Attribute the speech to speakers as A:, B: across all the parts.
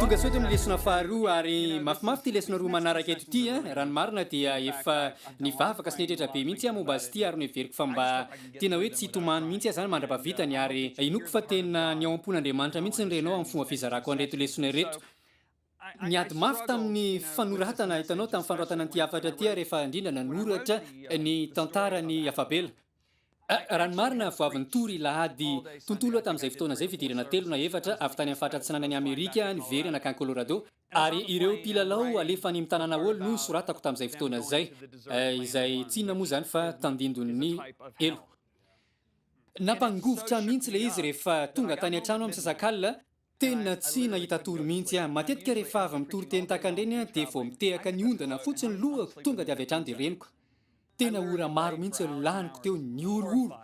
A: tonga sao eto ny lesona faharoa ary mafimafy ty lesona roa manaraka eto ty eh. raha ny marina dia efa nivavaka sy nitretra be mihitsy aho momba azy ity ary noheveriko fa mba tena hoe tsy hitomany mihitsy aho zany mandra-pavitany ary inoako fa tena ny ao am-pon'Andriamanitra mihitsy ny renao amin'ny fomba fizarako an'ireto lesona ireto Niady mafy tamin'ny fanoratana, hitanao, tamin'ny fanoratana an'ity hafatra ity aho rehefa indrindra nanoratra ny tantaran'i Yavabela. Raha ny marina, vao avy nitory lahady tontolo aho tamin'izay fotoana izay, fidirana telo na efatra avy tany amin'ny faritra atsinanan'i Amerika niverina nankany Colorado, ary ireo mpilalao alefa any amin'ny tanàna Hall no soratako tamin'izay fotoana izay, izay tsy inona moa izany fa tandindon'ny helo. Nampangovitra ahy mihitsy ilay izy rehefa tonga tany an-trano aho misasakalina, Tena tsy nahita tory mihitsy aho. Matetika rehefa avy mitory teny tahaka an'ireny aho dia vao mitehaka ny ondana fotsiny ny lohako tonga dia avy hatrany dia reniko. Tena ora maro mihitsy no laniko teo nihorohoro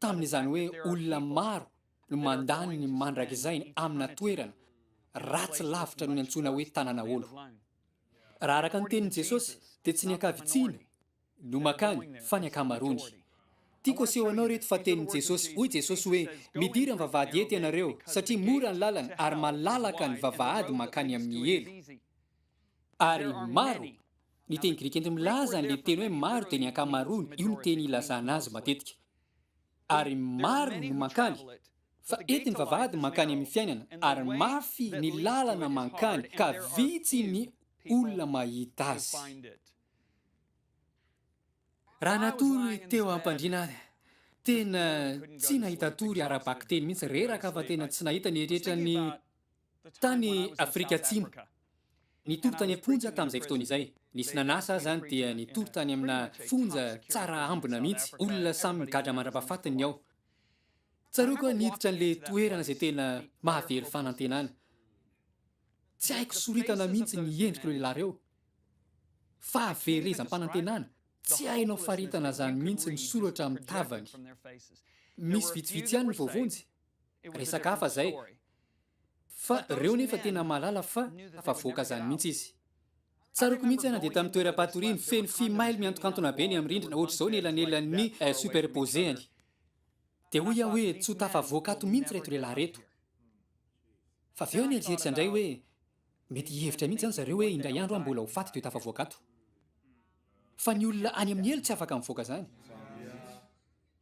A: tamin'izany hoe olona maro no mandany ny mandrakizainy amina toerana ratsy lavitra noho ny antsoina hoe tanan'aolo. Raha araka ny tenin'i Jesosy dia tsy ny ankavitsiana, no makany fa ny akamaroany. Tiako aseho anao ireto fa tenin'i Jesosy, hoy Jesosy hoe, midira ny vavahady eto ianareo, satria mora ny lalana ary malalaka ny vavahady mankany amin'ny helo. Ary maro, ny teny grika ento milaza an'ilay teny hoe maro dia ny ankamaroany, io no teny ilazana azy matetika. Ary maro no mankany, fa eto ny vavahady mankany amin'ny fiainana, ary mafy ny lalana mankany ka vitsy ny olona mahita azy. Raha natory teo am-pandriana ary, tena tsy nahita tory ara-bakiteny mihitsy, reraka fa tena tsy nahita ny eritreritry ny tany Afrika Atsimo. Nitory tany am-ponja tamin'izay fotoana izay. Nisy nanasa aza any dia nitory tany amina fonja tsara ambina mihitsy. Olona samy migadra mandra-pahafatiny ny ao. Tsaroako aho niditra an'ilay toerana izay tena mahavery fanantenana. Tsy haiko soritana mihitsy ny endrik'ireo lehilahy ireo. Fahaverezam-panantenana, tsy hainao faritana zany mintsy ny soratra amin'ny tavany. Misy vitsivitsy ihany ny voavonjy, resaka hafa zay. Fa reo nefa tena mahalala fa afavoaka zany mintsy izy. Tsaroako mintsy aho nandeha tamin'ny toeram-patoriany feno fimaily miantokantona be ny amin'ny rindrina ohatr'izao ny elanelan'ny superpose-any. Dia hoy aho hoe tsy ho tafavoaka ato mintsy reto lehilahy reto. Fa avy eo nieritreritra indray hoe, Mety hihevitra mihitsy izany zareo hoe indray andro aho mbola ho faty dia ho tafavoaka ato. Fa ny olona any amin'ny helo tsy afaka mivoaka izany.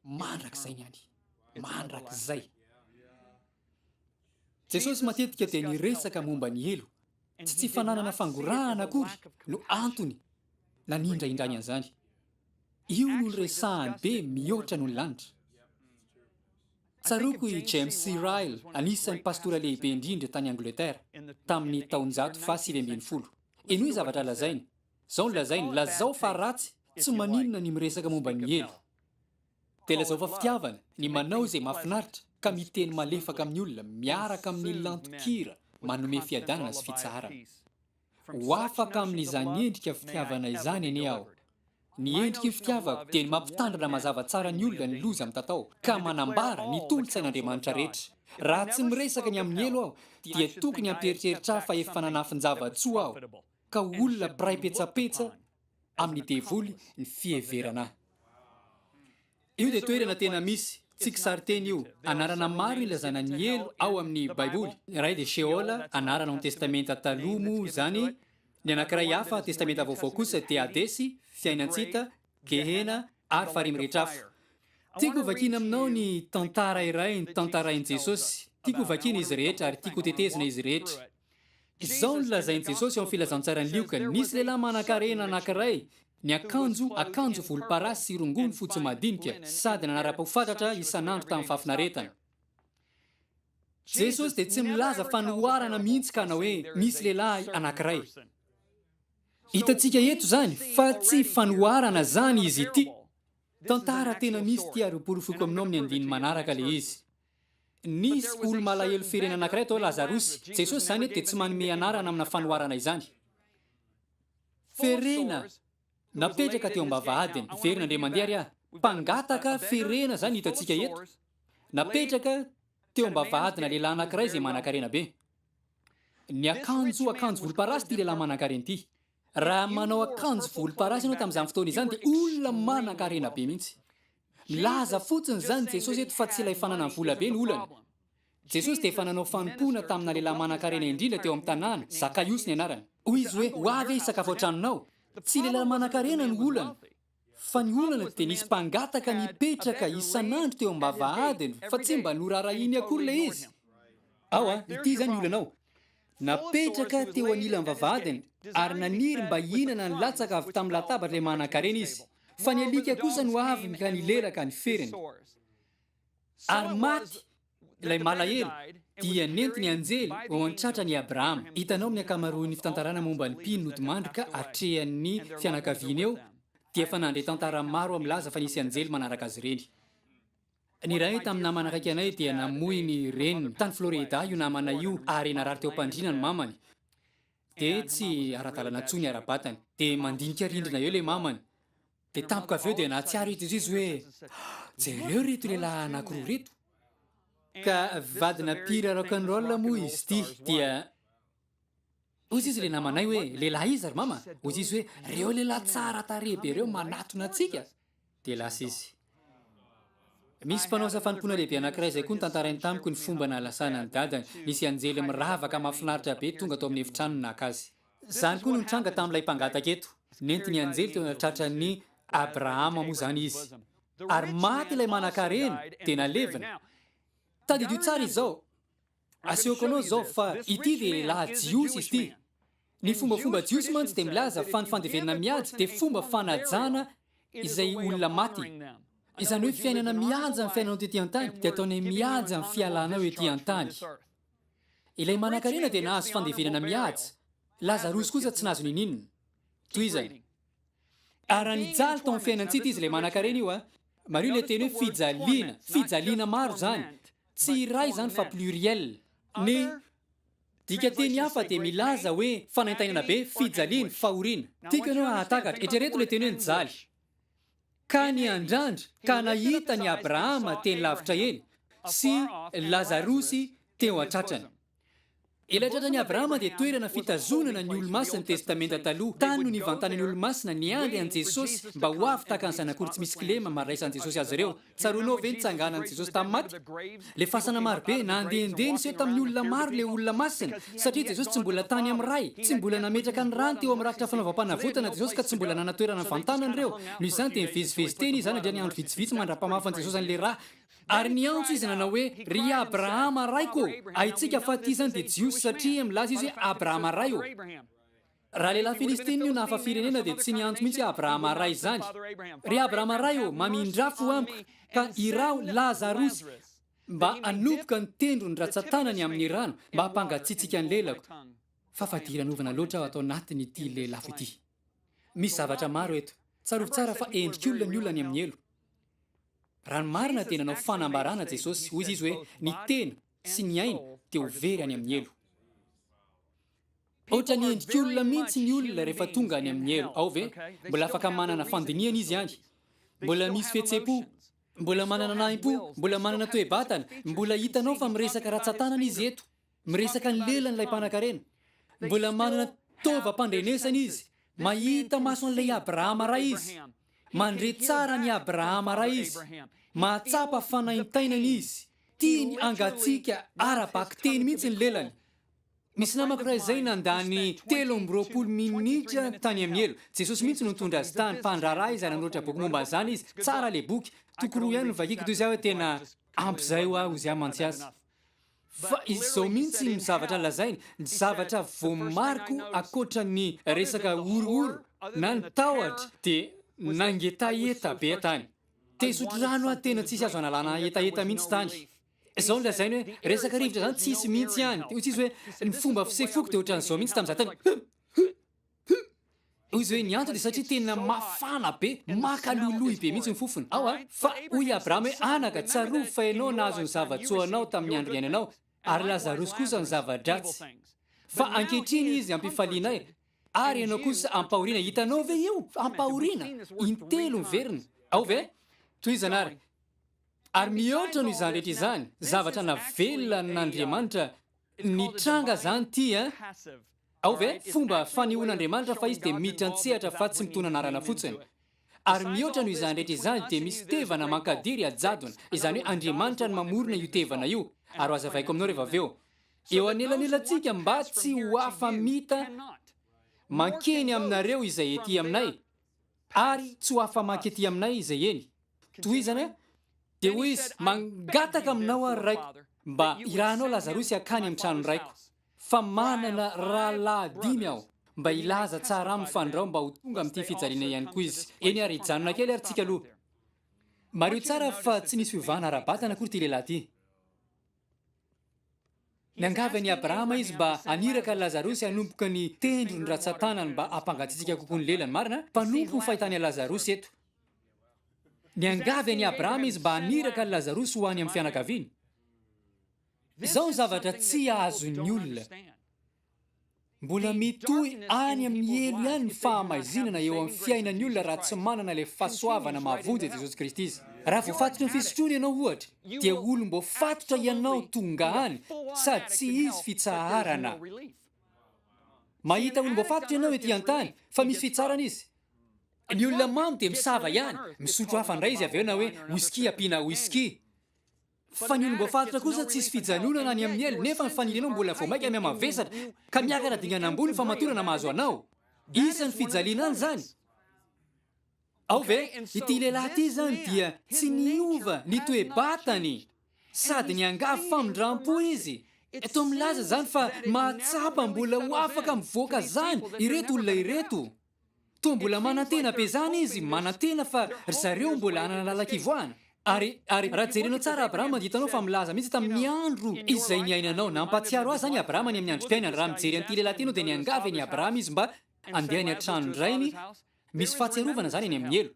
A: Mandrakizay ny any. Mandrakizay. Jesosy matetika dia niresaka momba ny helo. Tsy tsy fananana fangorahana akory no antony nanindraindrany an'izany. Io no niresahany be mihoatra noho ny lanitra. Tsaroako i James C. Ryle, anisan'ny pastora lehibe indrindra tany Angletera, tamin'ny taonjato fahasivy ambin'ny folo. Henoy zavatra lazainy. Izao no lazainy, Lazao fa ratsy, tsy maninona ny miresaka momba ny helo. Dia lazao fa fitiavana, ny manao izay mahafinaritra, ka miteny malefaka amin'ny olona, miaraka amin'ny lanton-kira manome fiadanana sy fitsaharana. Ho afaka amin'izany endrika fitiavana izany anie aho. Ny endriky ny fitiavako dia ny mampitandrina mazava tsara ny olona ny loza mitatao ka manambara ny tolo-tsain'Andriamanitra rehetra. Raha tsy miresaka ny amin'ny helo aho dia tokony hampieritreritra ahy fa efa nanafin-java-tsoa aho ka ho olona mpiray petsapetsa amin'ny devoly ny fiheverana ahy. Io dia toerana tena misy, tsy kisarin-teny io. Anarana maro ilazana ny helo ao amin'ny Baiboly. Ny iray dia Sheol, anarana ao amin'ny Testamenta Taloha moa izany. Ny anankiray hafa, Testamenta Vaovao, kosa dia Hadesy, fiainan-tsita, Gehena, ary farihy mirehitra afo. Tiako hovakiana aminao ny tantara iray notantarain'i Jesosy. Tiako hovakiana izy rehetra, ary tiako hotetezina izy rehetra. Izao no lazain'i Jesosy ao amin'ny Filazantsaran'i Lioka, Nisy lehilahy manankarena anankiray niakanjo akanjo volomparasy sy rongony fotsy madinika, sady nanara-pahafantatra isan'andro tamin'ny fahafinaretana. Jesosy dia tsy milaza fanoharana mihitsy ka hanao hoe nisy lehilahy anankiray. Hitantsika eto izany fa tsy fanoharana izany izy ity. Tantara tena misy ity ary ho porofoko aminao amin'ny andininy manaraka ilay izy. Nisy olo-malahelo firenena anankiray atao hoe Lazarosy. Jesosy izany dia tsy manome anarana amina fanoharana izany. Ferena napetraka teo am-bavahadiny. Hiverina indray mandeha ary aho. Mpangataka ferena izany no hitantsika eto. Napetraka teo am-bavahadina lehilahy anankiray izay manankarena be. Niakanjo akanjo volomparasy ity lehilahy manankarena ity. Raha manao akanjo volomparasy ianao tamin'izany fotoana izany dia olona manankarena be mihitsy. Milaza fotsiny izany Jesosy eto fa tsy ilay fananany vola be no olana. Jesosy dia efa nanao fanompoana tamina lehilahy manankarena indrindra teo amin'ny tanàna, Zakaiosy ny anarany. Hoy izy hoe, Ho avy aho hisakafo ao an-tranonao. Tsy lehilahy manankarena no olana. Fa ny olana dia nisy mpangataka nipetraka isan'andro teo am-bavahadiny fa tsy mba noraharahiany akory ilay izy. Ao a, ity izany ny olana ao. Napetraka teo anilan'ny vavahadiny ary naniry mba hihinana ny latsaka avy tamin'ny latabatr'ilay manan-karena izy. Fa ny alika kosa no avy ka nilelaka ny feriny. Ary maty Ilay malahelo dia nenty ny anjely ho an-tratra an'i Abrahama. Hitanao amin'ny ankamaroan'ny fitantarana momba ny mpino nodimandrika atrehan'ny fianakaviany eo, dia efa nandre tantara maro milaza fa nisy anjely manaraka azy ireny. Ny iray tamin'ny namana akaiky anay dia namoy ny reniny. Tany Florida io namana io, ary narary teo am-pandriana ny mamany. Dia tsy ara-dalana intsony ny ara-batany. Dia mandinika rindrina eo ilay mamany, Dia tampoka avy eo dia nahatsiaro eto Jesoa hoe, Jereo ireto lehilahy anankiroa ireto. Ka vadina mpihira rock and roll moa izy ity, dia Hoy izy ilay namanay hoe, lehilahy iza ry mama? Hoy izy hoe, ireo lehilahy tsara tarehy be ireo manatona antsika. Dia lasa izy. Misy mpanao asa fanompoana lehibe anankiray izay koa nitantarainy tamiko ny fomba nahalasana an'i dadany. Nisy anjely miravaka mahafinaritra be tonga tao amin'ny efitrano naka azy. Izany koa no nitranga tamin'ilay mpangataka eto. Nentin' ny anjely teo anatratran'i Abrahama moa izany izy. Ary maty ilay manankarena, dia nalevina. Tadidio tsara izao. Asehoko anao izao fa ity lehilahy jiosy izy ity. Ny fombafomba jiosy mantsy dia milaza fa ny fandevenana mihaja dia fomba fanajana izay olona maty. Izany hoe fiainana mihaja ny fiainanao tety an-tany dia ataonay mihaja ny fialanao ety an-tany. Ilay manankarena dia nahazo fandevenana mihaja, Lazarosy kosa tsy nahazo niniana. Tohizana. Ary raha nijaly tao amin'ny fiainan-tsita izy ilay manankarena io a! Mariho ilay teny hoe fijaliana, fijaliana maro izany, tsy iray izany fa pluriel. Ny dikanteny hafa dia milaza hoe fanaintainana be, fijaliana, fahoriana. Tiako ianao hahatakatra, eritrereto ilay teny hoe nijaly. Ka niandrandra ka nahita an'i Abrahama teny lavitra eny, sy Lazarosy teo an-tratrany. Ilay tratran'i Abrahama dia toerana fitazonana ny Olomasin'ny Testamenta Taloha. Tany no nivantanan'ny Olomasina niandry an'i Jesosy mba ho avy tahaka ny zanak'ory tsy misy kilema maraisan'i Jesosy azy ireo. Tsaroanao ve ny nitsanganan'i Jesosy tamin'ny maty? Le fasana marobe, nandehandeha niseho tamin'ny olona maro le olona masina, satria Jesosy tsy mbola tany amin'ny Ray, tsy mbola nametraka ny rany teo amin'ny rakitra fanaovam-panavotana Jesosy ka tsy mbola nanatoerana ny vantanany ireo, noho izany dia nivezivezy teny Izy izany handritra ny andro vitsivitsy mandra-pamafan'i Jesosy an'le ra, ary niantso Izy nanao hoe, Ry Abrahama Raiko ô! Haintsika fa ity izany dia Jiosy satria milaza Izy hoe Abrahama Ray ô! Raha lehilahy Filistina io na hafa firenena dia tsy niantso mihitsy Abrahama ray izany. Ry Abrahama ray ô, mamindrà fo amiko, ka iraho Lazarosy mba hanopoka ny tendrony ratsan-tanany amin'ny rano mba hampangatsiatsiaka ny lelako, fa fadiranovana loatra aho ato anatin'ity lelafo ity. Misy zavatra maro eto. Tsarovy tsara fa endrik'olona ny olona any amin'ny helo. Raha ny marina dia nanao fanambarana Jesosy, hoy izy hoe ny tena sy ny aina dia ho very any amin'ny helo. Ohatran'ny endrik'olona mihitsy ny olona rehefa tonga any amin'ny helo ao ve? Mbola afaka manana fandinihana izy any? Mbola misy fihetsem-po? Mbola manana nahim-po? Mbola manana toe-batana? Mbola hitanao fa miresaka ratsan-tanana izy eto? Miresaka ny lelany ilay mpanankarena? Mbola manana taovam-pandrenesana izy? Mahita maso an'ilay Abrahama ray izy? Mandre tsara an'i Abrahama ray izy? Mahatsapa fanaintainana izy? Tiany hangatsiaka ara-bakiteny mihitsy ny lelany? Nisy namako iray izay nandany telo amby roapolo minitra tany amin'ny helo. Jesosy mihitsy no nitondra azy tany. Mpandraharaha izy ary nanoratra boky momba an'izany izy. Tsara ilay boky. Toko roa ihany no vakiko toy izay hoe tena ampy izay ho ahy hoy izy ahy mantsy aza. Fa izy izao mihitsy no zavatra lazainy, ny zavatra voamariko ankoatra ny resaka horohoro na ny tahotra dia nangetaheta be aho tany. Te hisotro rano aho tena tsisy azo analana hetaheta mihitsy tany. Zao no lazainy hoe resaka rivotra zany tsisy mintsy any de ozy izy hoe ny fomba fisefoko de otrany zao mintsy tamzah tany ozy hoe ny antony de satria tena mafana be maka loiloy be mintsy ny fofony ao a fa oy i Abraham hoe anaka tsarovy fa enao nahazo ny zavatsoa anao tamin'ny andro iainanao ary Lazarosy kosa ny zavadratsy fa ankehitriny izy ampifalianay ary enao kosa ampahoriana hitanao ve io ampahoriana intelo miverina ao ve toizana ary Ary mihoatra noho izany rehetra izany, zavatra navelona an'Andriamanitra nitranga izany ity an! Ao ve? Fomba fanehoan'Andriamanitra fa izy dia miditra an-tsehatra fa tsy mitona anarana fotsiny. Ary mihoatra noho izany rehetra izany dia misy tevana mankadiry hajadona, izany hoe Andriamanitra no mamorona io tevana io. Ary ho hazavaiko aminao rehefa avy eo. Eo anelanelantsika mba tsy ho afa-mita mankeny aminareo izay ety aminay. Ary tsy ho afa-maika ety aminay izay eny. Tohizana, Dia hoy izy, Mangataka aminao aho, Raiko, mba hirahanao Lazarosy hankany amin'ny tranon'ny raiko, fa manana rahalahy dimy aho. Mba hilaza tsara aminy fa andrao mba ho tonga amin'ity fijaliana ihany koa izy. Eny ary, hijanona kely ary tsika aloha. Mariho tsara fa tsy nisy fiovana ara-batana akory ity lehilahy ity. Niangavy an'i Abrahama izy mba haniraka an'i Lazarosy hanomboka ny tendrony ratsan-tanany mba hampangatsiatsiaka kokoa ny lelany. Marina, mpanompo ny fahitany an'i Lazarosy eto. Niangavy an'i Abrahama izy mba haniraka an'i Lazarosy ho any amin'ny fianakaviany. Izao ny zavatra tsy azon'ny olona. Mbola mitohy any amin'ny helo ihany ny fahamaizinana eo amin'ny fiainan'ny olona raha tsy manana ilay fahasoavana mahavonjy an'i Jesosy Kristy izy. Raha voafatotry ny fisotroana ianao, ohatra, dia olom-boafatotra ianao tonga any sady tsy hisy fitsaharana. Mahita olom-boafatotra ianao ety an-tany, fa misy fitsarana izy. Ny olona mamo dia misava ihany, misotro hafa indray izy avy eo na hoe whisky ampiana whisky. Fa ny olom-boafaritra kosa tsisy fijanonana any amin'ny ela nefa ny fanirianao mbola vao maika mihamavesatra ka miakatra dingana ambony ny famatorana mahazo anao. Isan'ny fijaliana any izany. Ao ve? Ity lehilahy ity izany dia tsy niova ny toe-batany sady niangavy famindram-po izy. Toa milaza izany fa mahatsapa mbola ho afaka mivoaka izany ireto olona ireto. Toa mbola manantena be zany izy manantena fa ry zareo mbola hanana lalan-kivoahana. Ary ary raha jerenao tsara Abrahama dia hitanao fa milaza mihitsy tamin'ny andro izay niainanao. Nampahatsiaro ahy zany Abrahama any amin'ny androm-piainany. Raha mijery an'ity lehilahy ity ianao dia niangavy an'i Abrahama izy mba handeha any an-tranon-drainy. Misy fahatsiarovana zany any amin'ny helo.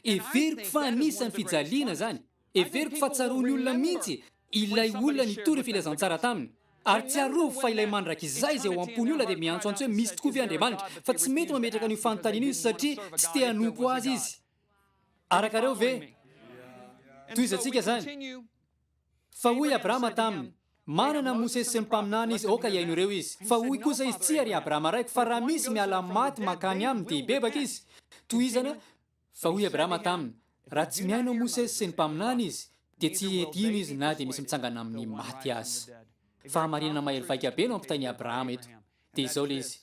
A: Heveriko fa anisan'ny fijaliana izany. Heveriko fa tsaroan'ny olona mihitsy ilay olona nitory filazantsara taminy. Ary tsiarovy fa ilay mandrakizay izay ao am-pon'ny olona dia miantsoantso hoe misy tokoa ve Andriamanitra, fa tsy mety mametraka an'io fanontaniana io izy satria tsy te hanompo azy izy. Arakareo ve? Tohizantsika izany. Fa hoy Abrama taminy, Manana an'i Mosesy sy ny mpaminany izy, aoka hihaino ireo izy. Fa hoy kosa izy, Tsia, ry Abrama raiko, fa raha misy miala amin'ny maty mankany aminy, dia hibebaka izy. Tohizana, Fa hoy Abrama taminy, Raha tsy mihaino an'i Mosesy sy ny mpaminany izy, dia tsy hety hino izy na dia misy mitsangana amin'ny maty aza. Fahamarinana mahery vaika be no ampitain'i Abrama eto. Dia izao ilay izy,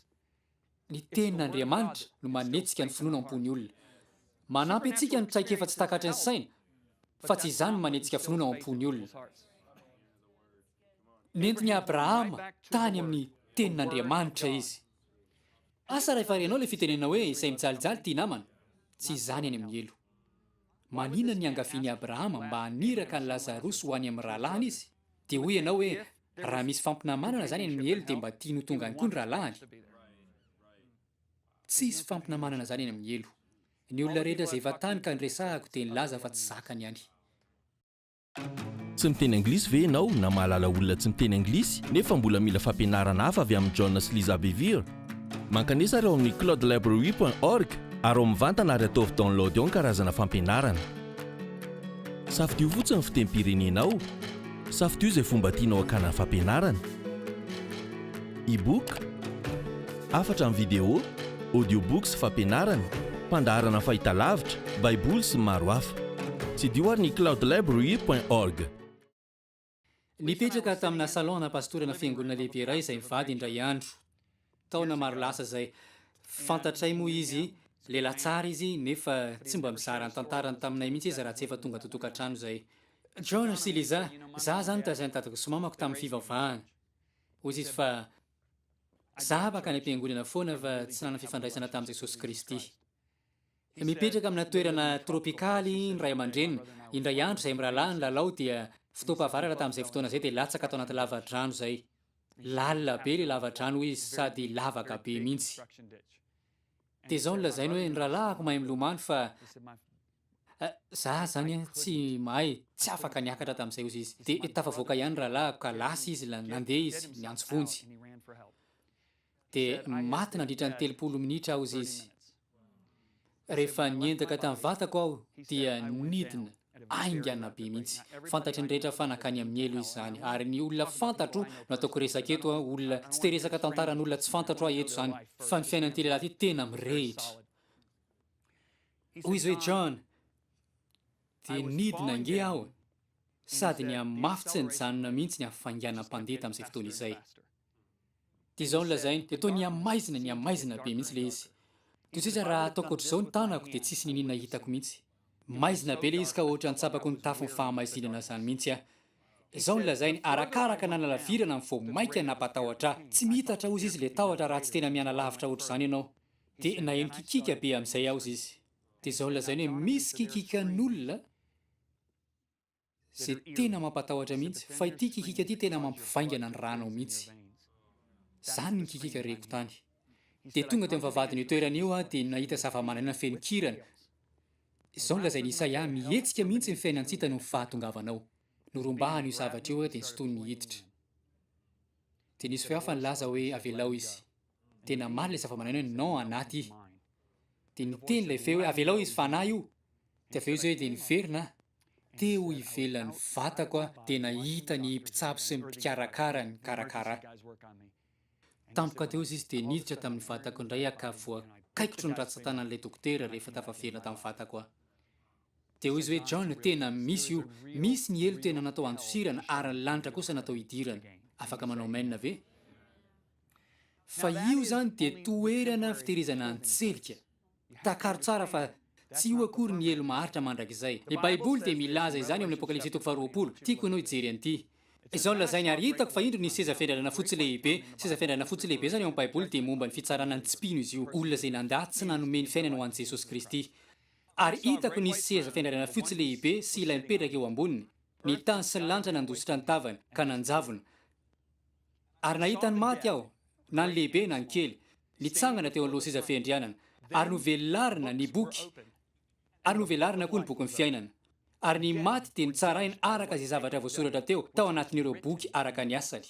A: Ny Tenin'Andriamanitra no manetsika ny finoana am-pon'ny olona. Manampy antsika ny traikefa tsy takatry ny saina, fa tsy izany no manetsika finoana ao am-pon'ny olona. Nentin'i Abrahama tany amin'ny Tenin'Andriamanitra izy. Asa raha efa renao ilay fitenenana hoe izay mijalijaly tia namana, tsy izany any amin'ny helo. Manina ny niangavian'i Abrahama mba haniraka an'i Lazarosy ho any amin'ny rahalahiny izy, dia hoy ianao hoe, Raha misy fampinamanana zany any miely de mba tiany ho tonga any koa ny rahalahiny? Tsy hisy fampinamanana zany any amin'ny helo. Ny olona rehetra zay efa tany ka niresahako de nilaza fa tsy zakany any. Tsy
B: miteny anglisy ve ianao na mahalala olona tsy miteny anglisy nefa mbola mila fampianarana hafa avy amin'i John sy Liza Bevere? Mankanesa ary ao amin'ny cloudlibrary point org ary ao mivantana ary ataovy download ao ny karazana fampianarana. Safidio fotsiny ny fitempirenenao. Safidio izay fomba tianao hakana ny fampianarana. E-book, hafatra amin'ny video, audiobooks, fampianarana, mpandaharana fahitalavitra, baiboly sy ny maro hafa. Tsidio ary ny cloudlibrary point org.
A: Nipetraka tamina salon ana pastorana fiangonana lehibe iray izay mivady indray andro. Taona maro lasa izay. Fantatray moa izy, lehilahy tsara izy, nefa tsy mba mizara ny tantarany taminay mihitsy izy raha tsy efa tonga ato an-tokantrano izay. John sy Lisa, izaho izany nitazana dadako sy mamako tamin'ny fivavahana. Hoy izy fa, Izaho afaka any am-piangonana foana fa tsy nanana fifandraisana tamin'i Jesosy Kristy. Mipetraka amina toerana tropikaly ny ray aman-dreniny. Indray andro izay mirahalahy ny lalao dia fotoam-pahavaratra tamin'izay fotoana izay dia latsaka tao anaty lava-drano izay. Lalina be ilay lava-drano hoy izy sady lavaka be mihitsy. Dia izao no lazainy hoe ny rahalahiko mahay milomano fa za izany tsy mahay, tsy afaka niakatra tamin'izay hozy izy. Dia tafavoaka ihany ny rahalahiko ka lasa izy, nandeha izy niantso vonjy. dia maty nandritra ny telopolo minitra aho hozy izy. Rehefa niendaka tamin'ny vatako aho dia nidina aingana be mihitsy. Fantatry ny rehetra fa nankany amin'ny helo izy izany ary ny olona fantatro no ataoko resaka eto an, olona tsy te resaka tantaran'olona tsy fantatro aho eto izany fa ny fiainan'ity lehilahy ity tena mirehitra. Hoy izy hoe John dia nidina ange aho sady nihamafy tsy nijanona mihitsy ny hafainganam-pandeha tamin'izay fotoana izay. Dia izao no lazainy, dia toa nihamaizina nihamaizina be mihitsy ilay izy. Toy izay iza raha ataoko ohatr'izao ny tanako dia tsisy niniana hitako mihitsy. Maizina be ilay izy ka ohatran'ny tsapako ny tafon'ny fahamaizinana izany mihitsy aho. Izao no lazainy, arakaraka nanalavirana ny vao mainka nampatahotra ahy. Tsy miitatra hozy izy ilay tahotra raha tsy tena mianalavitra ohatr'izany ianao. Dia naheno kikika be amin'izay aho hozy izy. Dia izao no lazainy hoe misy kikikan'olona. Ze tena mampatahotra mihitsy fa ity kikika ty tena mampivaingana ny rànao mihitsy. Zany ny kikika reko tany. De tonga teo am vavahadin io toerana io aho de nahita zavamananaina feno kirana. Izao no lazain Isaia a, mihetsika mihitsy ny fiainantsita noho ny fahatongavanao. Norombahan io zavatra io aho de nsintoniny hiditra. De nisy feo hafa nilaza hoe avelao izy. De namaly ilay zavamananaina hoe non anah ty. De niteny ilay feo hoe avelao izy fanahy io. De avy eo izay de niverina aho. Teo ivelan'ny vatako aho dia nahita ny mpitsabo sy ny mpikarakara nikarakara ahy. Tampoka teo izy dia niditra tamin'ny vatako indray aho ka voakaikitro ny ratsan-tanan'ilay dokotera rehefa tafavela tamin'ny vatako aho. Dia hoy izy hoe, John, tena misy io. Misy ny helo tena natao handosirana ary ny lanitra kosa natao hidirana. Afaka manao amen ve? Fa io izany dia toerana fitehirizana an-tselika. Takaro tsara fa tsy io akory ny helo maharitra mandrakizay. Ny Baiboly dia milaza izany ao amin'ny Apokalypsy toko faharoapolo. Tiako ianao hijery an'ity. Izao no lazainy, Ary hitako fa indro nisy seza fiandrandràna fotsy lehibe. Seza fiandrandràna fotsy lehibe izany ao amin'ny Baiboly dia momba ny fitsaràna ny tsy mpino izy io, olona izay nandà tsy nanome ny fiainany ho an'i Jesosy Kristy. Ary hitako nisy seza fiandrandràna fotsy lehibe sy ilay mipetraka eo amboniny. Ny tany sy ny lanitra nandositra ny tavany, ka nanjavona. Ary nahita ny maty aho, na ny lehibe na ny kely, nitsangana teo aloha seza fiandrianana, ary novelarina ny boky, ary novelarina koa ny bokin'ny fiainana. Ary ny maty dia notsaraina araka izay zavatra voasoratra teo tao anatin'ireo boky araka ny asany.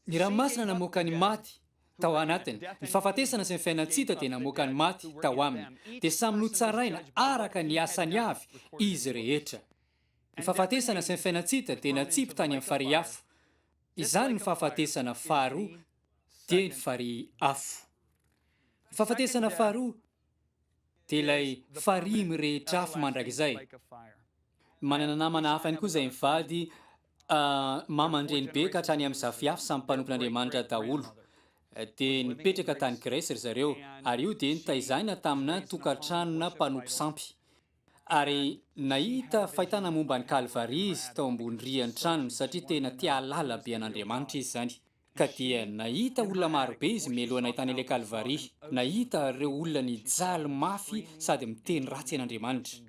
A: Ny ranomasina namoaka ny maty tao anatiny, ny fahafatesana sy ny fiainan-tsy-hita dia namoaka ny maty tao aminy, dia samy notsaraina araka ny asany avy izy rehetra. Ny fahafatesana sy ny fiainan-tsita dia natsipy tany amin'ny farihy afo. Izany ny fahafatesana faharoa dia ny farihy afo. Ny fahafatesana faharoa dia ilay farihy mirehitra afo mandrakizay. Manana namana hafa ihany koa izay mivady maman-dreny be ka hatrany amin'ny zafiafo samy mpanompon'Andriamanitra daholo. Dia nipetraka tany Gresy ry zareo ary io dia nitaizana tamina tokantranona mpanompo sampy. Ary nahita fahitana momba an'i Kalvary izy tao ambony rian'ny tranony, satria tena te hahalala be an'Andriamanitra izy izany. Ka dia nahita olona maro be izy mialoha nahitana ilay Kalvary. Nahita ireo olona nijaly mafy sady miteny ratsy an'Andriamanitra.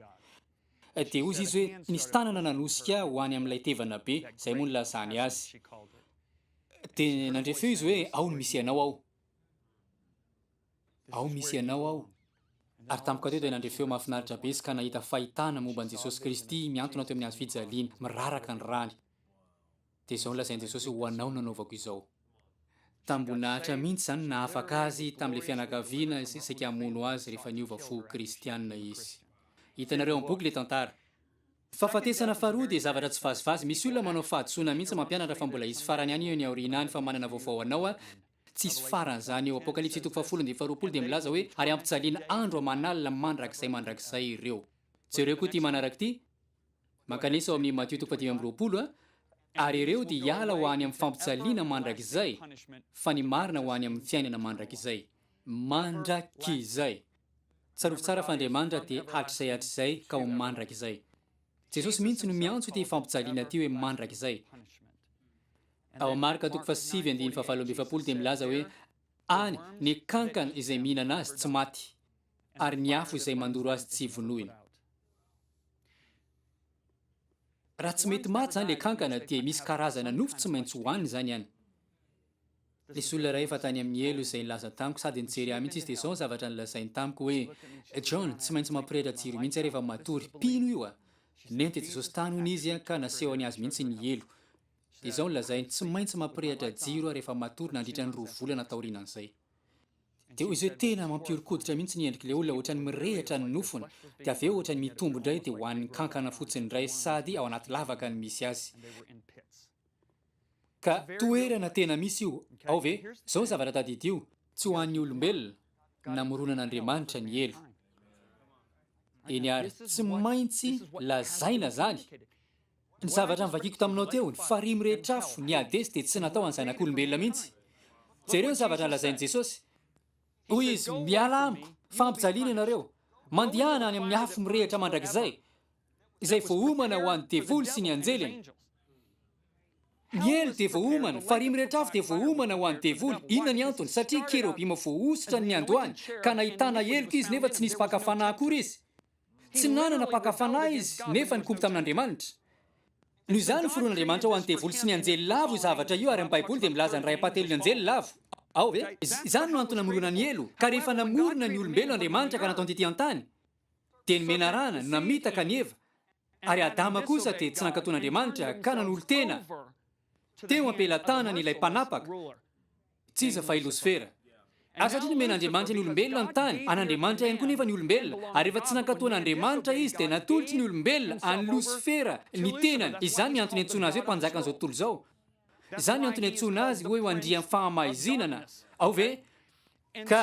A: Dia hoy izy hoe, Nisy tanana nanosika ahy ho any amin'ilay tevana be, izay moa nilazany azy. Dia nandre feo izy hoe, Ao no misy anao ao. Ao misy ianao ao. Ary tampoka teo dia nandre feo mahafinaritra be izy ka nahita fahitana momba an'i Jesosy Kristy mihantona teo amin'ny hazo fijaliana, miraraka ny rany. Dia izao no lazain'i Jesosy, Ho anao no anaovako izao. Tambon'Atra mihitsy izany no nahafaka azy tamin'ilay fianakaviana izay saika hamono azy rehefa niova fo ho kristiana izy. Hitanareo amin'ny boky ilay tantara. Ny fahafatesana faharoa dia zavatra tsy vazivazy. Misy olona manao fahadisoana mihitsy mampianatra fa mbola hisy farany ihany eny aoriana any fa manana vaovao anao aho, Tsisy farany izany eo. Apokalypsy toko fahafolo andininy faharoapolo dia milaza hoe ary hampijaliana andro aman'alina mandrakizay mandrakizay ireo. Jereo koa ity manaraka ity, mankanesa ao amin'ny Matio toko fahadimy amby roapolo, Ary ireo dia hiala ho any amin'ny fampijaliana mandrakizay, fa ny marina ho any amin'ny fiainana mandrakizay. Mandrakizay! Tsarovy tsara fa Andriamanitra dia hatrizay hatrizay ka ho mandrakizay. Jesosy mihitsy no miantso ity fampijaliana ity hoe mandrakizay. Ao amin'ny Marka toko fahasivy andininy fahavalo amby efapolo dia milaza hoe, Any, ny kankana izay mihinana azy tsy maty, ary ny afo izay mandoro azy tsy vonoina. Raha tsy mety maty izany ilay kankana, dia misy karazana nofo tsy maintsy hohanina izany any. Nisy olona iray efa tany amin'ny helo izay nilaza tamiko, sady nijery ahy mihitsy izy, dia izao ny zavatra nolazainy tamiko hoe, John, tsy maintsy mampirehitra jiro mihitsy aho rehefa matory. Mpino io, a! Nente Jesosy tany, hono, izy, ka nasehony azy mihitsy ny helo. Dia izao no lazainy, tsy maintsy mampirehitra jiro aho rehefa matory nandritra ny roa volana taorianan'izay. Dia hoy izy hoe tena mampihoron-koditra mihitsy ny endrik'ilay olona, ohatran'ny mirehitra ny nofony, dia avy eo ohatran'ny mitombo indray dia ho an'ny kankana fotsiny indray sady ao anaty lavaka no misy azy. Ka toerana tena misy io ao ve? Izao ny zavatra tadidio. Tsy ho an'ny olombelona, namoronan'Andriamanitra ny helo. Eny ary, tsy maintsy lazaina izany. Ny zavatra novakiko taminao teo, ny farihy mirehitra afo, ny Hadesy dia tsy natao an'ny zanak'olombelona mihitsy. Jereo ny zavatra nolazain'i Jesosy. Hoy Izy, Miala amiko, fampijaliana ianareo, mandehana any amin'ny afo mirehitra mandrakizay, izay voaomana ho an'ny devoly sy ny anjeliny. Ny helo dia voaomana, farihy mirehitra afo dia voaomana ho an'ny devoly. Inona ny antony? Satria kerobima voahosotra ny niandohany, ka nahitana heloka izy nefa tsy nisy mpaka fanahy akory izy. Tsy nanana mpaka fanahy izy, nefa nikomy tamin'Andriamanitra. Noho izany, ny foron'Andriamanitra ho an'ny devoly sy ny anjely lavo io zavatra io, ary amin'ny Baiboly dia milaza ny ray ampahatelon'ny anjely lavo. Ao ve? Izany no antony namorona ny helo. Ka rehefa namorona ny olombelona Andriamanitra ka nataony tetỳ an-tany, dia ny menarana no namitaka an'i Eva, ary Adama kosa dia tsy nankatò an'Andriamanitra ka nanolo-tena teo am-pelatanany ilay mpanapaka. Tsy iza fa i Losifera. Ary satria nomen'Andriamanitra ny olombelona ny tany, an'Andriamanitra ihany koa nefa ny olombelona, ary rehefa tsy nankatò an'Andriamanitra izy, dia natolotry ny olombelona an'i Losifera ny tenany. Izany ny antony iantsoana azy hoe mpanjakan'izao tontolo izao. Izany ny antony iantsoana azy hoe ho andrian'ny fahamaizinana. Ao ve? Ka.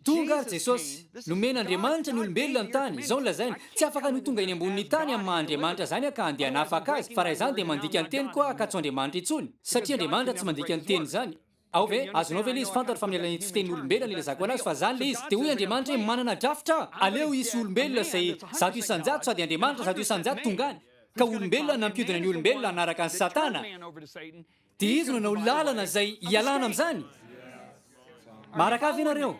A: Tonga ary Jesosy. Nomen' Andriamanitra ny olombelona ny tany, izao no lazainy, Tsy afaka ny ho tonga eny ambonin' ny tany amin'ny maha Andriamanitra izany aho ka handeha hanafaka azy, fa raha izany dia mandika ny teniko aho ka tsy ho Andriamanitra intsony, satria Andriamanitra tsy mandika ny teny izany. Ao ve? Azonao ve ilay izy? Fantatro fa amin'ny alalan'ity fitenin' olombelona no ilazako an'azy, fa izany ilay izy. Dia hoy Andriamanitra hoe, Manana drafitra aho, aleo hisy olombelona izay zato isan-jato, sady Andriamanitra zato isan-jato tonga any, ka olombelona nampiodina ny olombelona hanaraka an'i Satana. Dia izy no nanao lalana izay hialana amin'izany. Maharak'avy ve ianareo?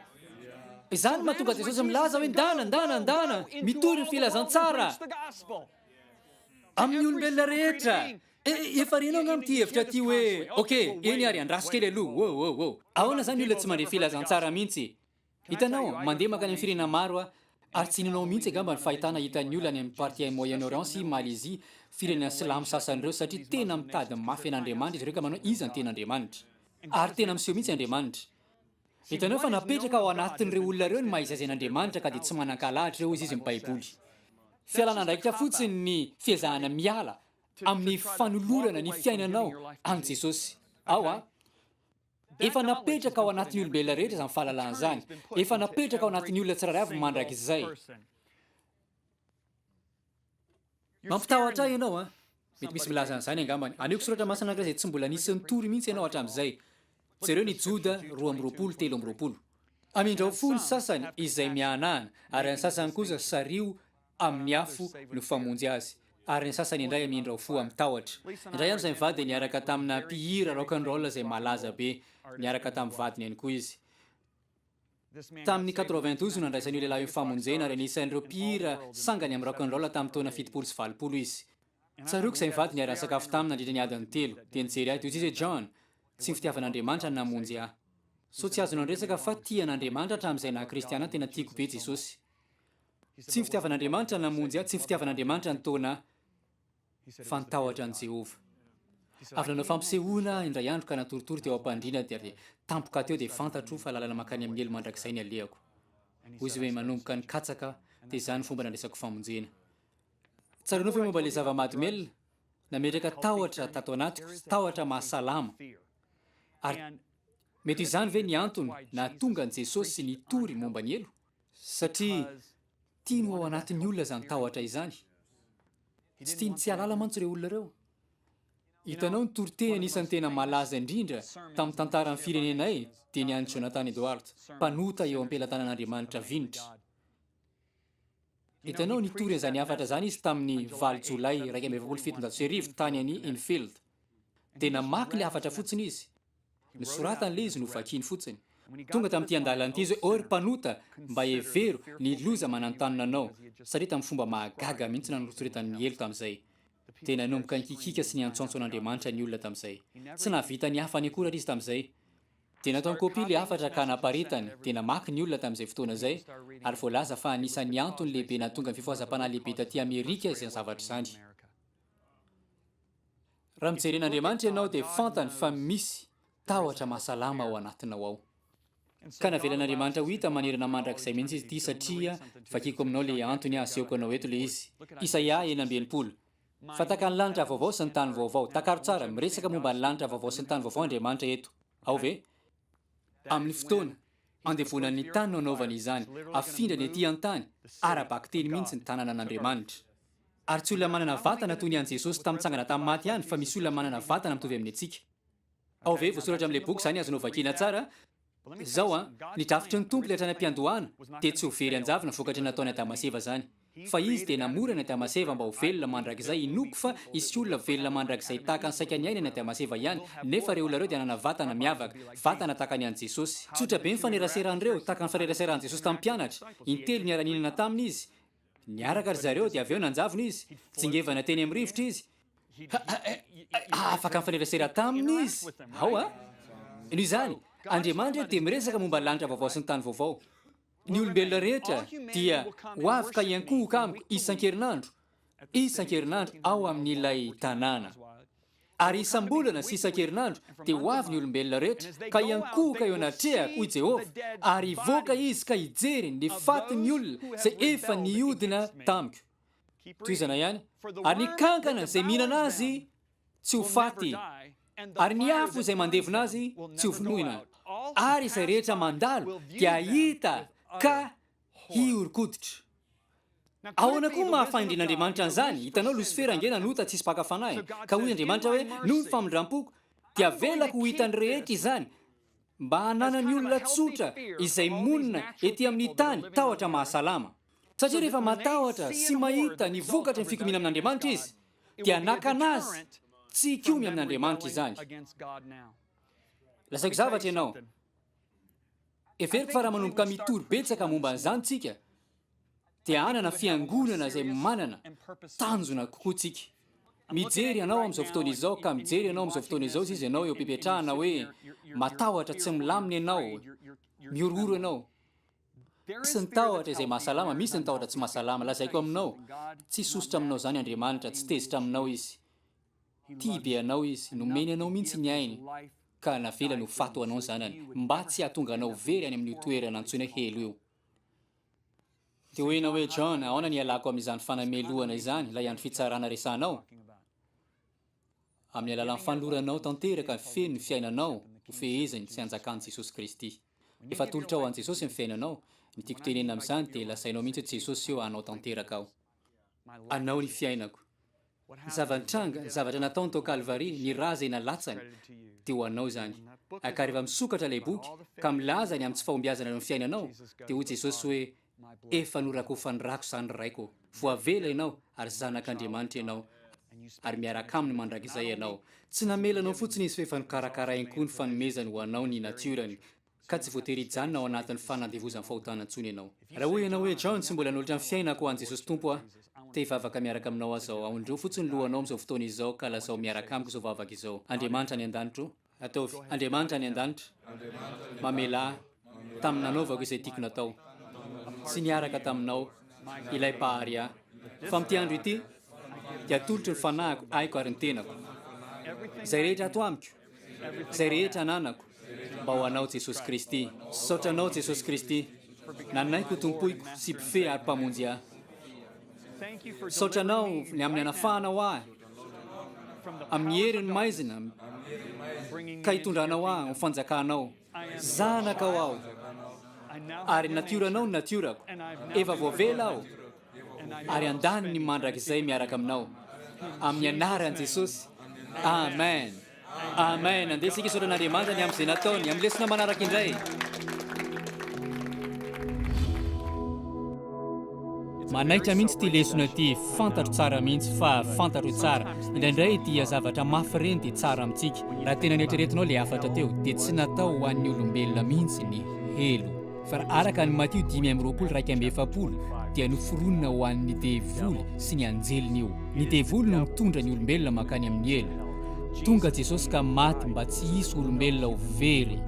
A: Izany no mahatonga Jesosy milaza hoe ndana, ndana, ndana, mitory ny filazantsara amin'ny olombelona rehetra. E, efa renao angamba ity hevitra ity hoe, ok, eny ary, andraso kely aloha, wow, wow, wow. Ahoana izany olona tsy mandre filazantsara mihitsy? Hitanao, mandeha mankany amin'ny firenena maro aho, ary tsy inoanao mihitsy angamba ny fahitana hitan'ny olona any amin'ny partie Moyen Orient sy Malaisie, firenena silamo sasany ireo, satria tena mitady mafy an'Andriamanitra izy ireo ka manao iza no tena Andriamanitra. Ary tena miseho mihitsy Andriamanitra. Hitanao fa napetraka ao anatin'ireo olona ireo ny maha izaizain' Andriamanitra ka dia tsy manan-kahalahatra ireo hoy izy amin'ny Baiboly. Fialana andraikitra fotsiny ny fiezahana miala amin'ny fanolorana ny fiainanao amin'i Jesosy. Ao a. Efa napetraka ao anatin'ny olombelona rehetra izany fahalalana izany. Efa napetraka ao anatin'ny olona tsirairay avy mandrakizay. Mampitahotra ahy ianao an. Mety misy milaza an'izany angambany. Anehoko soratra masina anankiray izay tsy mbola nisy nitory mihitsy ianao hatramin'izay. Jereo ny Joda roa amby roapolo, telo amby roapolo. Amindrao fo ny sasany izay mihanahana, ary ny sasany kosa sario amin'ny afo no famonjy azy, ary ny sasany indray hamindra ho fo amin'ny tahotra. Indray andro izay mivady dia niaraka tamina mpihira rock and roll izay malaza be. Niaraka tamin'ny vadiny ihany koa izy. Tamin'ny quatre-vingt-douze no nandraisan'io lehilahy io famonjena, ary anisan'ireo mpihira sangany amin'ny rock and roll tamin'ny taona fitopolo sy valopolo izy. Tsaroako izay mivady niara-nisakafo taminy nandritra ny adiny telo, dia nijery ahy toy izay izy hoe, John, tsy ny fitiavan'Andriamanitra no namonjy ahy. Sao tsy azonao ny resaka fa tia an'Andriamanitra hatramin'izay naha-kristiana ahy, tena tiako be Jesosy. Tsy ny fitiavan'Andriamanitra namonjy ahy, tsy ny fitiavan'Andriamanitra nitaona ahy, fa ny tahotra an'i Jehovah. Avy nanao fampisehoana aho indray andro ka natoritory teo am-pandriana, dia avy tampoka teo dia fantatro fa lalana mankany amin'ny helo mandrakizay ny alehako. Hoy izy hoe, Manomboka nikatsaka, dia izany ny fomba nandraisako famonjena. Tsaroanao ve momba ilay zava-mahadomelina? Nametraka tahotra tato anatiko, tahotra mahasalama. Ary mety ho izany ve ny antony nahatonga an'i Jesosy nitory momba ny helo? Satria tiany ho ao anatin'ny olona izany tahotra izany. Tsy tiany tsy hialala mantsy ireo olona ireo. Hitanao ny toriteny anisan'ny tena malaza indrindra tamin'ny tantaran'ny firenenay dia ny an'i Jonathan Edwards, mpanota eo am-pelatanan'Andriamanitra vinitra. Hitanao nitory an'izany hafatra izany izy tamin'ny valo Jolay iraika amby efapolo sy fitonjato sy arivo tany an'i Enfield. Dia namaky ilay hafatra fotsiny izy. Ny soratany le izy no vakiny fotsiny. Tonga tamin'ity andalana ity izy hoe, 'Ô ry mpanota, mba hevero ny loza mananontanona anao, satria tamin'ny fomba mahagaga mihitsy nanoritsoritany ny helo tamin'izay. Dia nanomboka nikikiaka sy niantsoantso an'Andriamanitra ny olona tamin'izay. Tsy nahavita ny hafany akory àry izy tamin'izay. Dia nataony kopia ilay hafatra ka naparitany, dia namaky ny olona tamin'izay fotoana izay, ary voalaza fa anisan'ny antony lehibe nahatonga ny fifohazam-panahy lehibe tatỳ Amerika izany zavatra izany. Raha mijery an'Andriamanitra ianao dia fantany fa misy tahotra mahasalama ao anatinao ao. Ka navelan'Andriamanitra ho hita manerana mandrakizay mihitsy izy ity satria vakiko aminao le antony asehoko anao eto le izy. Isaia enina amby enimpolo. Fa taka ny lanitra vaovao sy ny tany vaovao. Takaro tsara, miresaka momba ny lanitra vaovao sy ny tany vaovao Andriamanitra eto. Ao ve? Amin'ny fotoana andevonan'ny tany no anaovany izany, afindrany aty an-tany, ara-bakiteny mihitsy ny tananan'Andriamanitra. Ary tsy olona manana vatana toy ny an'i Jesosy tamin'ny nitsangana tamin'ny maty ihany fa misy olona manana vatana mitovy amin'ny antsika. Ao ve voasoratra amin'ilay boky izany azonao vakina tsara? Izao an, ny drafitry ny Tompo ilay hatrany am-piandohana dia tsy ho very an-javona vokatry ny nataony Adama sy Eva izany. Fa Izy dia namora an'i Adama sy Eva mba ho velona mandrakizay, inoako fa hisy olona velona mandrakizay tahaka ny saika niaina an'i Adama sy Eva ihany, nefa ireo olona ireo dia hanana vatana miavaka, vatana tahaka ny an'i Jesosy. Tsotra be ny faneraseran'ireo, tahaka ny faneraseran'i Jesosy tamin'ny mpianatra, intelo niara-nihinana taminy Izy, Niaraka ry zareo dia avy eo nanjavona izy. Tsingevana teny amin'ny rivotra izy. Afaka nifanerasera taminy izy ao a! Noho izany, Andriamanitra dia miresaka momba ny lanitra vaovao sy ny tany vaovao. Ny olombelona rehetra dia ho avy ka hiankohoka amiko isan-kerinandro, isan-kerinandro ao amin'ilay tanàna. Ary isam-bolana sy isan-kerinandro dia ho avy ny olombelona rehetra, ka hiankohoka eo anatrehako, hoy Jehovah, ary hivoaka izy ka hijery ny fatin'ny olona izay efa nihodina tamiko. Tohizana ihany, Ary ny kankana izay mihinana azy tsy ho faty, ary ny afo izay mandevona azy tsy ho vonoina, ary izay rehetra mandalo dia hahita ka hihoron-koditra. Ahoana koa no mahafahendren'Andriamanitra an'izany? Hitanao, Losifera ange nanota tsy hisy mpaka fanahiny. Ka hoy Andriamanitra hoe, Noho ny famindram-poko, dia avelako ho hitan'ny rehetra izany, mba hananan'ny olona tsotra izay monina ety amin'ny tany tahotra mahasalama. Satria rehefa matahotra sy mahita ny vokatry ny fikomiana amin'Andriamanitra izy, dia hanakana azy tsy hikomy amin'Andriamanitra izany. Lazaiko zavatra ianao. Heveriko fa raha manomboka mitory betsaka momba an'izany tsika, dia hanana fiangonana izay manana tanjona kokoa tsika. Mijery anao amin'izao fotoana izao, ka mijery anao amin'izao fotoana izao ziz ianao eo am-pipetrahana hoe matahotra tsy milamina ianao, mihorohoro ianao. Misy ny tahotra izay mahasalama, misy ny tahotra tsy mahasalama. Lazaiko aminao, tsy hisosotra aminao izany Andriamanitra, tsy tezitra aminao Izy. Tia be anao izy, nomeny anao mihitsy ny ainy ka navelany ho faty ho anao ny zanany mba tsy hahatonga anao very any amin'io toerana antsoina helo io. Dia hoy ianao hoe, John, ahoana ny hialako amin'izany fanamelohana izany, ilay andro fitsarana resahanao? Amin'ny alalan'ny fanoloranao tanteraka feno ny fiainanao hofeheziny sy hanjakan'i Jesosy Kristy. Efa atolotrao an'i Jesosy ny fiainanao, ny tiako tenenina amin'izany dia lazainao mihitsy hoe Jesosy io hanao tanteraka aho. Anao ny fiainako. Ny zava-nitranga, ny zavatra nataony tao Kalvary, ny ra izay nalatsany, dia ho anao izany. Ka rehefa misokatra ilay boky, ka milaza ny amin'ny tsy fahombiazana eo amin'ny fiainanao, dia hoy Jesosy hoe, Efa norakofan'ny rako izany ny Raiko. Voavela ianao, ary zanak'Andriamanitra ianao, ary miaraka Aminy mandrakizay ianao. Tsy namela anao fotsiny Izy fa efa nokarakarainy koa ny fanomezany ho anao ny natiorany. ka tsy voatery hijanona ao anatin'ny fanandevozan'ny fahotana intsony ianao. Raha hoy ianao hoe, John, tsy mbola nolotra ny fiainako ho an'i Jesosy Tompo aho, te hivavaka miaraka aminao aza aho. Aondrio fotsiny ny lohanao amin'izao fotoana izao ka lazao miaraka amiko izao vavaka izao, Andriamanitra any an-danitro. Ataovy, Andriamanitra any an-danitra, mamelà ahy tamin'ny nanaovako izay tiako natao, sy niaraka taminao, ilay Mpahary ahy. Fa amin'ity andro ity, dia atolotro ny fanahiko, aiko ary ny tenako. Izay rehetra ato amiko, Izay rehetra ananako mba ho anao Jesosy Kristy. Saotra anao Jesosy Kristy nanaiky ho tompoiko sy mpifehy ary mpamonjy ahy. Saotra anao ny amin'ny anafahanao ahy amin'ny herin'ny maizina ka hitondranao ahy ho fanjakanao. Zanakao aho, ary ny natioranao no natiorako. Efa voavela aho, ary andaniny mandrakizay miaraka aminao. Amin'ny anaran'i Jesosy. Amen. Amen. Andeha isika hisaotra an'Andriamanitra ny amin'izay nataony. Amin'ny lesona manaraka indray. Manaitra mihitsy ity lesona ity, fantatro tsara mihitsy fa fantatro io tsara. Indraindray dia zavatra mafy ireny dia tsara amintsika. Raha tena neritreretinao ilay hafatra teo dia tsy natao ho an'ny olombelona mihitsy ny helo. Fa raha araka ny Matio dimy amby roapolo iraika amby efapolo dia noforonina ho an'ny devoly sy ny anjeliny io. Ny devoly no mitondra ny olombelona mankany amin'ny helo. Tonga Jesosy ka maty mba tsy hisy olombelona ho very,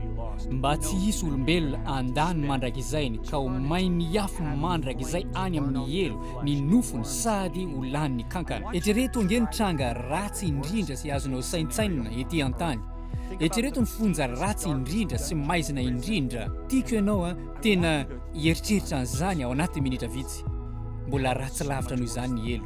A: mba tsy hisy olombelona handany mandrakizay ny ka ho may miafy mandrakizay any amin'ny helo ny nofony sady ho lanin'ny kankana. Eritrereto ange ny tranga ratsy indrindra izay azonao saintsainina ety an-tany. Eritrereto ny fonja ratsy indrindra sy maizina indrindra. Tiako ianao an! Tena hieritreritra an'izany ao anatin'ny minitra vitsy. Mbola ratsy lavitra noho izany ny helo.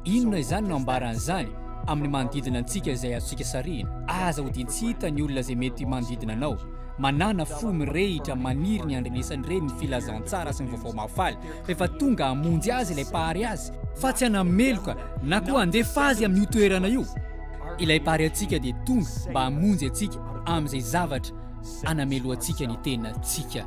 A: Inona izany no ambaran'izany amin'ny manodidina antsika izay azontsika sarihina? Aza hodiany tsy hita ny olona izay mety manodidina anao. Manàna fo mirehitra, maniry ny handrenesany ireny ny filazantsara sy ny vaovao mahafaly, rehefa tonga hamonjy azy ilay Mpahary azy, fa tsy hanameloka na koa handefa azy amin'io toerana io. Ilay Mpahary antsika dia tonga mba hamonjy antsika amin'izay zavatra anamelohantsika ny tenantsika.